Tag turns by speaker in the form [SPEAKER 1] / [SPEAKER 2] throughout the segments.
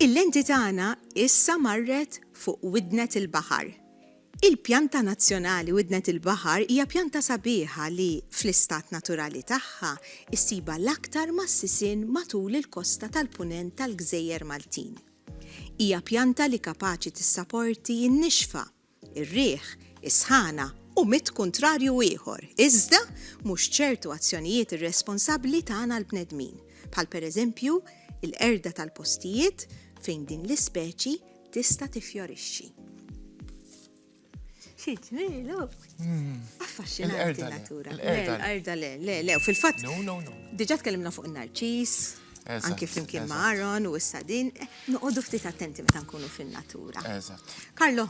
[SPEAKER 1] Il-lenti tagħna issa marret fuq Widnet il-Baħar. Il-Pjanta Nazzjonali Widnet il-Baħar hija pjanta sabiħa li, fl-istat naturali tagħha, issibha l-aktar mas-sisien matul il-kosta tal-Punent tal-Gżejjer Maltin. Hija pjanta li kapaċi tissaporti n-nixfa, ir-riħ, is-sħana u mitt kuntrarju ieħor, iżda mhux ċertu azzjonijiet irresponsabbli tagħna l-bnedmin, bħal pereżempju l-qerda tal-postijiet fejn din l-ispeċi tista' tiffjorixxi. Xi ġmielu? Hmm. Affaxxinanti natura. L-qerda le, le, le, u fil-fatt. No, no, no. Diġà tkellimna fuq in-narċis, anki flimkien ma' Aaron u s-sadin. Eh, Noqogħdu ftit attenti meta nkunu fin-natura. Eżatt. Karlo,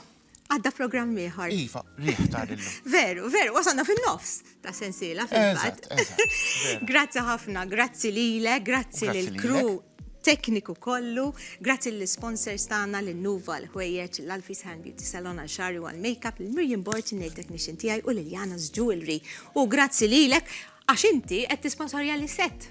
[SPEAKER 1] għadda programm ieħor. Iva, riħ ta' lillu.
[SPEAKER 2] Veru, veru, wasalna
[SPEAKER 1] fin-nofs ta' sensiela fil-fatt. Grazzi ħafna, grazzi lile, grazzi lil kru tekniku kollu, grazzi l-sponsors tagħna l nuva l-ħwejjeġ, l-Alfis Hand Beauty Salon għal xari għal makeup, l-Mirjam Borċ, il-nail technician tiegħi u l-Jana's Jewelry. U grazzi lilek għax inti qed tisponsorja li set